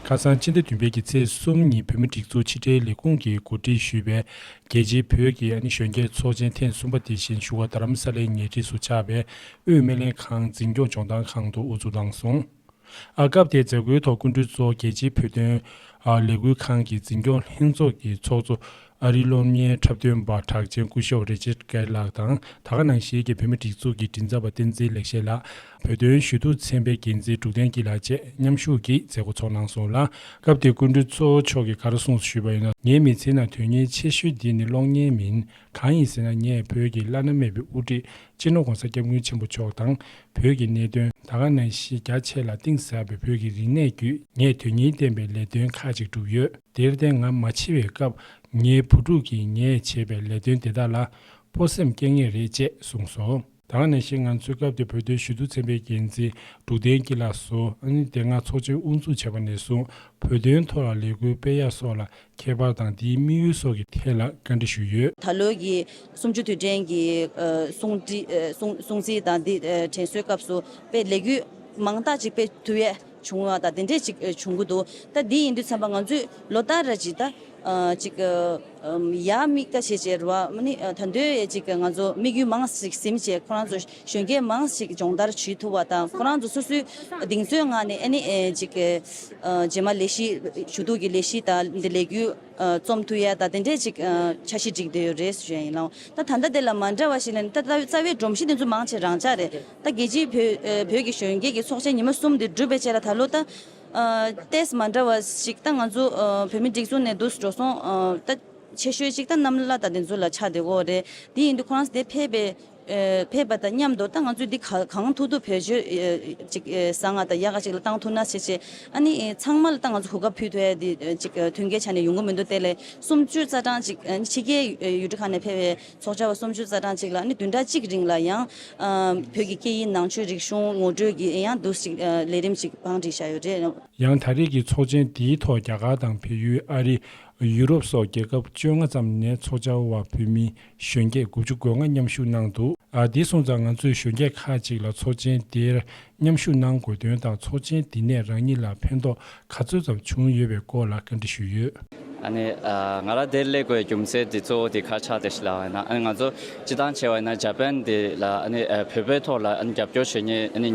ཁ་སང་ཕྱི་ཟླ་བདུན་པའི་གི་ཚེས་གསུམ་ཉིན་བོད་མི་སྒྲིག་འཛུགས་ཕྱི་དྲིལ་ལས་ཁུངས་ཀྱིས་གོ་སྒྲིག་ཞུས་པའི་རྒྱལ་སྤྱིའི་བོད་ཀྱི་ཨ་ནེ་གཞོན་སྐྱེས་ཚོགས་ཆེན་ཐེངས་གསུམ་པ་དེ་བཞིན་ཞུ་བ་རྡ་རམ་ས་ལའི་ཉེ་འཁྲིས་སུ་ཆགས་པའི་དབུས་སྨན་ལེན་ཁང་འཛིན་སྐྱོང་ལྗོངས་ཐང་ཁང་དུ་དབུ་འཛུགས་གནང་སོང། ཨ་སྐབས་དེའི་མཛད་སྒོའི་ཐོག་སྐུ་མགྲོན་གཙོ་རྒྱལ་སྤྱིའི་བོད་དོན་ལས་འགུལ་ཁང་གི་འཛིན་སྐྱོང་ལྷན་ཚོགས་ཀྱི་ཚོགས་གཙོ་ཨ་རིའི་སློབ་གཉེར་འཁྲབ་སྟོན་པ་གྲགས་ཅན་སྐུ་ཞོགས་རེ་ཆེར་ཀེར་ལགས་དང་ད་ག་ནང་ཤེས་ཀྱི་བོད་མི་སྒྲིག་འཛུགས་ཀྱི་མགྲིན་ཚབ་པ་བསྟན་འཛིན་ལེགས་བཤད་ལགས། བོད་དོན་ཞུ་གཏུག་ཚན་པའི་འགན་འཛིན་འབྲུག་བསྟན་སྐྱིད་ལགས་བཅས་མཉམ་ཞུགས་ཀྱིས་མཛད་སྒོ་འཚོགས་གནང་སོང་ལ། སྐབས་དེའི་སྐུ་མགྲོན་གཙོ་བོ་མཆོག་གིས་ག་རེ་གསུངས་སུ་ཞུས་པ་ཡིན་ན། ངའི་མི་ཚེའི་ནང་དོན་སྙིང་ཆེ་ཤོས་འདི་ནི་གློག་བརྙན་མིན། གང་ཡིན་ཟེར་ན་ངས་བོད་ཀྱི་བླ་ན་མེད་པའི་དབུ་ཁྲིད་སྤྱི་ནོར ྋགོང་ས ྋསྐྱབས་མགོན་ཆེན་པོ་མཆོག་དང། བོད་ཀྱི་གནད་དོན་ད་ག་ནང་བཞིན་རྒྱ་ཆེ་ལ་གཏིང་ཟབ་པའི་བོད་ཀྱི་རིག་གནས་བརྒྱུད་ངས་དོན་སྙིང་ལྡན་པའི་ལས་དོན་ཁག་ཅིག་བསྒྲུབས་ཡོད། དེར་བརྟེན་ང་མ་འཆི་བའི་སྐབས་ངའི་བུ་ཕྲུག་གིས་ངས་བྱས་པའི་ལས་དོན་དེ་དག་ལ་སྤོ་སེམས་སྐྱེ་ངེས་རེད་ཅེས་གསུངས་སོང། དང་ནས་ཤིང་ང་ཚོའི་སྐབས་དེ་བོད་དོན་ཞུ་གཏུག་ཚན་པའི་འགན་འཛིན་འབྲུག་བསྟན་སྐྱིད་ལགས་སུ་ཨནི་དེ་སྔ་ཚོགས་ཆེན་དབུ་འཛུགས་བྱས་པ་ནས་བཟུང་བོད་དོན་ཐོག་ལ་ལས་འགུལ་སྤེལ་ཡ་སོགས་ལ་ཁྱད་པར་དང་དེའི་དམིགས་ཡུལ་སོགས་ཀྱི་ཐད་ལ་བཀའ་འདྲི་ཞུས་ཡོད། ད་ལོའི་གི་སུམ་ཅུ་དུས་དྲན་གྱི་གསུང་བསྒྲིགས་གསུང་གསུང་ཚིག་དང་དེ་དྲན་གསོའི་སྐབས་སུ་པའི་ལས་འགུལ་མང་དག་ཅིག་སྤེལ་ཐུབ་ཡས་བྱུང་བ་དང་དེ་འདྲས་ཅིག་བྱུང་གི་འདུག་ད་དེ་ཡིན་དུས་འཚམས་པ་ང་ཚོས་ལོ་ལྟར་ར་ཅིག་ད། ཅིག། ཡ་མིག་ད་བྱེད་བྱེད་རུ་བ་མ་ནི་ད་འདོད་ཡ་ཅིག་ང་ཚོ་དམིགས་ཡུལ་མང་ཞིག་སིམ་བྱེད་ཁོ་རང་ཚོ་གཞོན་སྐྱེས་མང་ཞིག་སྦྱོང་བརྡར་བྱེད་ཐུབ་བ་དང་ཁོ་རང་ཚོ་སོ་སོའི་གདིང་ཚོད་ངང་ནས་ཨེ་ནི་ཅིག། རྗེས་མ་ལས་གཞི་ཞུ་གཏུག་གི་ལས་གཞི་ད་འདི་ལས་རྒྱུ་རྩོམ་མཐུ་ཡ་ད་དེ་འདྲས་ཅིག་འཆར་གཞི་བསྒྲིགས་བསྡད་ཡོད་རེད་ཟེར་བཞིན་ཡིན་ལ་ད་ད་ལྟ་དེ་ལ་མ་འདྲ་བ་ཞིག་ལ་ནི་ད་རྩ་བའི་སྒྲོམ་གཞི་དེ་ཚོ་མང་ཆེ་རང་འཇགས་རེད། ད་རྒྱལ་སྤྱིའི་བོད་ཀྱི་གཞོན་སྐྱེས་ཀྱི་ཚོགས་ཆེན་ཉི་མ་གསུམ་འདི་གྲུབ་པའི་རྗེས་ལ་ད་ལོ་ད་ལྟའི་མ་འདྲ་བ་ཞིག་ད་ང་ཚོ་བོད་མི་སྒྲིག་འཛུགས་ནས་འདུག་འགྲོ་སོང་ད་ཆེ་ཤོས་ཅིག་ད་གནམ་བླ་དང་དེ་ཚོ་ལ་ཆགས་བསྡད་འོ་རེད་དེ་ཡིན་དུས་ཁོ་རང་དེ་ཕེབས་པ་དང་མཉམ་དུ་ད་ང་ཚོས་འདི་གང་ཐུག་ཐུག་བོད་ཆོས་ཅིག་བཟང་ང་དང་ཡག་ག་ཅིག་ལ་གཏང་ཐུག་ན་ཆེ་ཆེ་ཨ་ནི་ཚང་མ་ལ་ད་ང་ཚོ་གོ་སྐབས་ཕུལ་ཐུ་ཨེ་འདི་ཅིག་ཐུན་ཁའི་ཆ་ནས་ཡོང་གི་མི་འདུག་དེ་ལས་གསུམ་བཅུ་རྩ་གྲངས་ཅིག་ཕྱི་རྒྱལ་ཡུལ་གྲུ་ཁག་ནས་ཕེབས་པའི་ཚོགས་བཅར་བ་སུམ་ཅུ་རྩ་གྲངས་གཅིག་ལ་ནི་བདུན་ཕྲག་གཅིག་རིང་ལ་ཡང། བོད་ཀྱི་སྐད་ཡིག་ནང་ཆོས་རིག་གཞུང་ངོ་སྤྲོད་ཀྱི་ཡང་བསྡུ་ཞིག་ལས་རིམ་ཞིག་བང་སྒྲིག་བྱ་ཡོད་རེད། ཡང་ད་རེས་ཀྱི་ཚོགས་ཆེན་དེའི་ཐོག་རྒྱ་གར་དང་བལ་ཡུལ་ཨ་རི། ཡུ་རོབ་སོགས་རྒྱལ་ཁབ་བཅོ་ལྔ་ཙམ་ནས་ཚོགས་བཅར་བ་བོད་མི་གཞོན་སྐྱེས་དགུ་བཅུ་གོ་ལྔ་མཉམ་ཞུགས་གནང་འདུག་དེའི་སོང་ཙང་ང་ཚོས་གཞོན་སྐྱེས་ཁག་ཅིག་ལ་ཚོགས་ཆེན་དེར་མཉམ་ཞུགས་གནང་དགོས་དོན་དང་ཚོགས་ཆེན་འདི་ནས་རང་ཉིད་ལ་ཕན་ཐོགས་ག་ཚོད་ཙམ་བྱུང་ཡོད་པའི་སྐོར་ལ་བཀའ་འདྲི་ཞུས་ཡོད། ཨ་ནི། ང་རང་དེར་སླེབས་དགོས་རྒྱུ་མཚན་དེ་གཙོ་བོ་དེ་ཁ་ཆག་དེ་ཞིག་ལ་ཨ་ནི་ང་ཚོ་སྤྱི་བཏང་བྱས་པ་ན་ཇཱ་པན་དེ་ལ་ཨ་ནི་བོད་པའི་ཐོག་ལ་ཨ་ནི་རྒྱབ་སྐྱོར་བྱེད་ངེས་ཨ་ནི་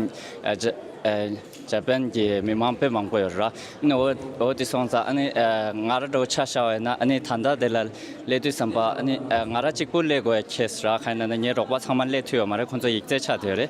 ཇཱ་པན་གྱི་མི་དམངས་དཔེ་མང་པོ་ཡོད་རེད་ཨ་ནི་འོ་འོ་དེ་སོང་ཙང་ཨ་ནི་ང་རང་འགྲོ་ཆ་ཤར་བས་ན་ཨ་ནི་ད་ལྟ་དེ་ལ་སླེབས་དུས་བསམ་པ་ཨ་ནི་ང་རང་གཅིག་པུ་སླེབས་དགོས་ཁེས་ར་ཁ་ན་ནི་ངའི་རོགས་པ་ཚང་མ་སླེབས་ཐུས་ཡོད་མ་རེད་ཁོང་ཚོ་ཡིག་རྩལ་ཆགས་དུས་རེད།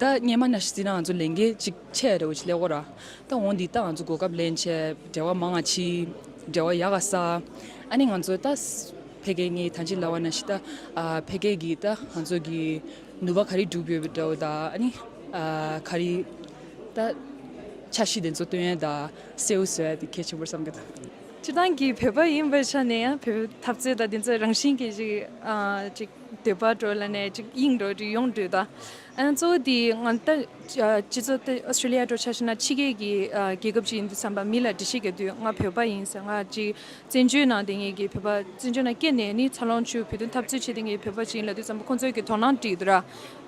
ད་སྙན་མ་ན་ཤི་ཙི་ན་ང་ཚོ་ལས་འགེལ་ཅིག་འཆད་རེ་བོ་ཆི་ལེགས་བོ་ར། ད་འོང་འདི་ད་ང་ཚོ་གོ་སྐབས་ལེན་ཆེ་འབྲེལ་བ་མ་ང་ཆི། འབྲེལ་བ་ཡ་ག་ས། ཨ་ནི་ང་ཚོ་ད་ཕེ་གེ་ངེ་ཐང་ཅིག་ལ་བ་ན་ཤི་ད་ཕེ་གེ་གི་ད་ང་ཚོ་གི་ནུ་བ་ག་རི་འགྲུབ་ཡོད་འདྲ་བོ་ད་ཨ་ནི་ག་རི་ད་ཆ་ཤི་དེ་ཚོ་སྟོན་ཡ་ད་སེའུ་བཟོ་ཡ་དེ་གལ་ཆེན་པོ་བསམ་གི་ད། སྤྱི་བཏང་གི་བོད་པ་ཡིན་པའི་ཆ་ནས་ཡང་བོད་པའི་འཐབ་རྩོད་ད་དེ་ཚོ་རང་བཞིན་གི་ཅིག་ཅིག། འདོད་པ་གྲོལ་ལ་ནད་ཅིག་དབྱིངས་འགྲོ་རིགས་ཡོངས་སྒྲོལ་དང། གཙོ་བོ་དེ་ང་ལྟ་སྤྱི་ཚོགས་དེ་ཨོ་སི་ཏྲེ་ལི་ཡ་འགྲོ་འཆར་ཤེས་ན་ཕྱི་རྒྱལ་གྱི་རྒྱལ་ཁབ་ཅིག་ཡིན་དུས་བསམ་པ་མི་ལ་འདྲི་ཤེས་ག་དུས་ང་བོད་པ་ཡིན་ཟེར་ང་ཅིག་བཙན་བྱོལ་ནང་དེ་ངེད་ཀྱི་བོད་པ་བཙན་བྱོལ་ནང་སྐྱེས་ནས་ནི་འཚར་ལོངས་བྱུས་བོད་དོན་འཐབ་རྩོད་བྱས་དེ་ངེད་བོད་པ་ཅིག་ཡིན་ལ་དུས་བསམ་པ་ཁོང་ཚོས་ཀྱི་དོ་སྣང་བྲིས་འདུག་ར་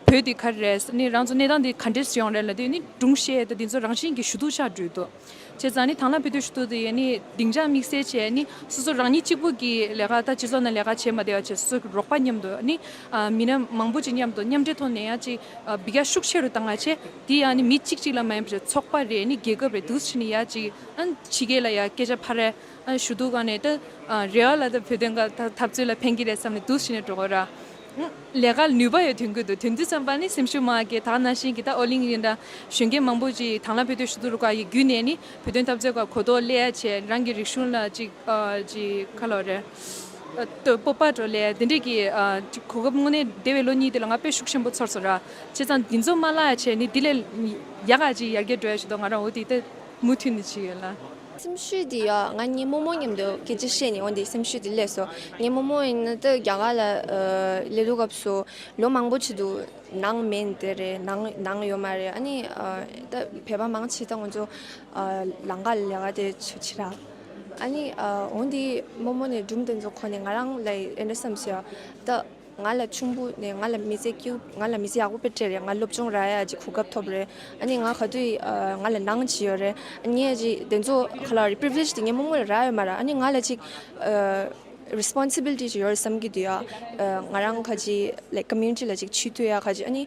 བོད་དེ་ག་རེ་རེད་ཟེར་ནི་རང་ཚོ་གནས་སྟངས་དེ་ག་འདྲས་སུ་ཡོང་རེད་ལ་དེ་ནི་སྒྲུང་བཤད་དེ་འདི་ཚོ་རང་བཞིན་གྱི་ཞུ་གཏུག་ཆགས་འགྲོས་འདུག། བྱས་ཙང་ནི་དང་ལ་བུ་དུས་ཞིག་ཏུ་དེ་ནི་སྡིངས་ཆ་དམིགས་བསལ་བྱས་ནི་སོ་སོ་རང་ཉིད་གཅིག་པུ་གྱིས་ལས་ཀ་དང་སྤྱི་ཚོགས་ནང་ལས་ཀ་བྱེད་མ་བདེ་བ་བྱས་སོ་སོའི་རོགས་པ་མཉམ་དུ་ནི་མི་སྣ་མང་པོ་ཅིག་མཉམ་དུ་མཉམ་འབྲེལ་ཐོག་ནས་ཡང་ཅིག་བི་ག་ཤུགས་ཆེ་རུ་བཏང་བ་བྱས་དེ་ཡང་ནི་མི་གཅིག་གཅིག་ལ་མ་ཡིན་པར་ཚོགས་པ་རེ་ནི་རྒྱལ་ཁབ་རེ་དུས་ཕྱིས་ནི་ཡང་ཅིག་ཕྱི་རྒྱལ་ལ་ཡང་སྐད་ཆ་ཕར་རེ་ཞུ་གཏུག་གང་ནས་ད་རེ་བ་ལ་ད་བོད་དོན་ག་ད་འཐབ་རྩོད་ལ་ཕན་གྱི་རེད་བསམ་ནས་དུས་ཕྱིས་ནས་འགྲོ་གོ་ར། ལས་ཀ་ལ་ནུས་པ་ཡོད་དུས་འགུལ་འདུག་དོན་དུ་བསམ་པ་ནི་སེམས་ཤུགས་མང་གི་དག་ན་ཤིང་གི་ད་ཨོ་གླིང་རིང་འདྲ། གཞོན་སྐྱེས་མང་པོ་ཅིག་དང་ལ་བོད་དོན་ཞུ་གཏུག་རུ་ཁག་གི་བརྒྱུད་ནས་ནི་བོད་དོན་འཐབ་རྩོད་ཁག་གོ་ལྡོག་སླད་ཆེད་རང་གི་རིག་གཞུང་ལ་ཅིག་ཅིག་ཁ་ལོ་རེ། སྤོབས་པ་སྤྲོ་སླད་དེ་འདྲས་ཀྱི་གོ་སྐབས་དངོས་གནས་འདས་བའི་ལོ་གཉིས་འདི་ལ་ང་དཔེ་ཤུགས་ཆེན་པོ་ཚོར་སོང་ར། བྱས་ཙང་འདི་ཚོ་མ་བཀླགས་ཆེད་ནི་འདི་ལས་ཡག་ག་ཅིག་ཡར་རྒྱས་འགྲོ་ཡ་ཞུ་དོགས་ང་རང་འོ་དེ་ལྟ། མུ་མཐུད་ནས་བྱས་ཡོད་ལ། སེམས་ཤུགས་དེ་ཡོད་ང་ངའི་རྨོ་མོ་མཉམ་དུ་སྐད་ཆ་བཤད་ནས་འོན་ཏེ་སེམས་ཤུགས་དེ་སླེབས་སོ། ངའི་རྨོ་མོ་ཡིན་ན་ཏོ་རྒྱ་གར་ལ་སླེབས་འདུག་སྐབས་སུ་ལོ་མང་པོ་བྱས་འདུག་ནང་མེད་དེ་རེད་ནང་ནང་ཡོད་མ་རེད་ཨ་ནི་ད་བོད་པ་མང་ཆེ་ད་ང་ཚོ་ལང་ཀ་ལ་ལས་ཀ་དེ་ཚོ་བྱེད་ར། ཨ་ནི་འོན་ཏེ་རྨོ་མོ་ནས་སྒྲུང་དེ་ཚོ་གོ་ནས་ང་རང་ལ་ཨེ་འདྲ་བསམ་ཤེས་ད། ང་ལ་ཆུང་བུ་ནས་ང་ལ་མི་ཚེ་སྐྱིལ་ང་ལ་མི་ཚེ་ཡག་པོ་སྤེལ་འཕྲལ་རེད་ང་སློབ་སྦྱོང་ར་ཡག་ཅིག་གོ་སྐབས་ཐོབ་རེད་ཨ་ནི་ང་ག་དུས་ང་ལ་ནང་ཇི་ཡོད་རེད་ངས་ཇི་དེ་ཚོ་ག་ལ་རེད previous དེ་ངས་སྨོ་སྔོན་ལ་ར་ཡོད་མ་རེད་ཨ་ནི་ང་ལ་ཅིག responsibility ཇི་ཡོད་བསམ་གྱི་འདུག་ང་རང་ག་ཅིག like community ལ་ཅིག་ཆུད་དུས་ཡ་ག་ཅིག་ཨ་ནི།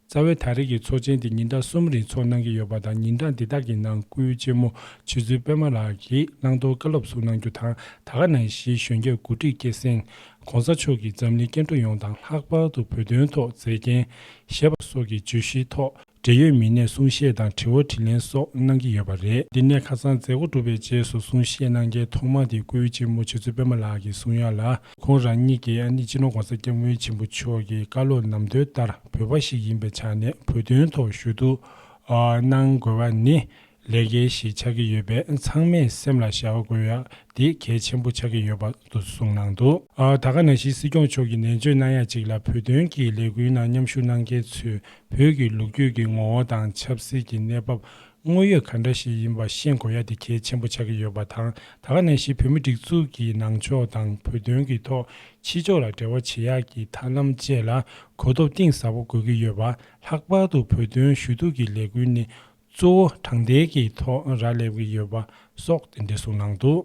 རྩ་བའི་ད་རེས་ཀྱི་ཚོགས་ཆེན་དེ་ཉིན་གྲངས་གསུམ་རིང་ཚོགས་གནང་གི་ཡོད་པ་དང་ཉིན་གྲངས་འདི་དག་གི་ནང་སྐུའི་གཅེན་མོ་ཆོས་ཚུལ་པད་མ་ལགས་ཀྱིས་བླང་དོར་བཀའ་སློབ་གསུང་གནང་རྒྱུ་དང་ད་ག་ནང་བཞིའི་གཞོན་སྐྱེས་མགོ་ཁྲིད་སྐྱེད་སྲིང ྋགོང་ས་མཆོག་གིས་འཛམ་གླིང་སྐྱེ་འགྲོ་ཡོངས་དང་ལྷག་པར་དུ་བོད་དོན་ཐོག་མཛད་རྐྱེན་བཞེས་པ་སོགས་ཀྱི་བརྗོད་གཞིའི་ཐོག་འབྲེལ་ཡོད་མི་སྣས་གསུང་བཤད་དང་དྲི་བ་དྲིས་ལན་སོགས་གནང་གི་ཡོད་པ་རེད། འདི་ནས་ཁ་སང་མཛད་སྒོ་གྲུབ་པའི་རྗེས་སུ་གསུང་བཤད་གནང་མཁན་ཐོག་མ་དེ་སྐུའི་གཅེན་མོ་ཆོས་ཚུལ་པད་མ་ལགས་ཀྱི་གསུང་ཡ་ལ། ཁོང་རང་ཉིད་ཀྱི་ཨ་ནེ་སྤྱི་ནོར ྋགོང་ས ྋསྐྱབས་མགོན་ཆེན་པོ་མཆོག་གི་བཀའ་སློབ་ནམ་དོན་ལྟར་བོད་པ་ཞིག་ཡིན་པའི་ཆ་ནས་བོད་དོན་ཐོག་ཞུ་གཏུགགནང་དགོས་པ་ནི་ལས་འགན་ཞིག་ཆགས་ཀྱི་ཡོད་པས་ཚང་མས་སེམས་ལ་བཞག་དགོས་ཡ་དེ་གལ་ཆེན་པོ་ཆགས་ཀྱི་ཡོད་པ་དུ་གསུངས་གནང་འདུག་ད་སྐབས་ནང་བཞིན་སྲིད་སྐྱོང་མཆོག་གིས་ནན་བརྗོད་གནང་ཡ་གཅིག་ལ་བོད་དོན་གྱི་ལས་འགུལ་ནང་མཉམ་ཞུགས་གནང་མཁན་ཚོས་བོད་ཀྱི་ལུགས་རྒྱུད་ཀྱི་ངོ་བོ་དང་ཆབ་སྲིད་ཀྱི་གནས་བབ་དངོས་ཡོད་ག་འདྲ་ཞིག་ཡིན་པ་ཤེས་དགོས་ཡ་དེ་གལ་ཆེན་པོ་ཆགས་ཀྱི་ཡོད་པ་དང་ད་ག་ནས་ཤི་བོད་མི་སྒྲིག་འཛུགས་ཀྱི་ནང་ཕྱོགས་དང་བོད་དོན་གྱི་ཐོག་ཕྱི་ཕྱོགས་ལ་འབྲེལ་བ་བྱེད་ཡག་གྱི་ཐབས་ལམ་བཅས་ལ་གོ་སྟོབས་གཏིང་ཟབ་པོ་དགོས་ཀྱི་ཡོད་པ་ལྷག་པར་དུ་བོད་དོན་ཞུ་གཏུག་གི་ལས་འགུལ་ནི་གཙོ་བོ་དྲང་བདེན་གྱི་ཐོག་ར་སླེབས་ཀྱི་ཡོད་པ་སོགས་དེ་འདྲའི་གསུངས་གནང་འདུག།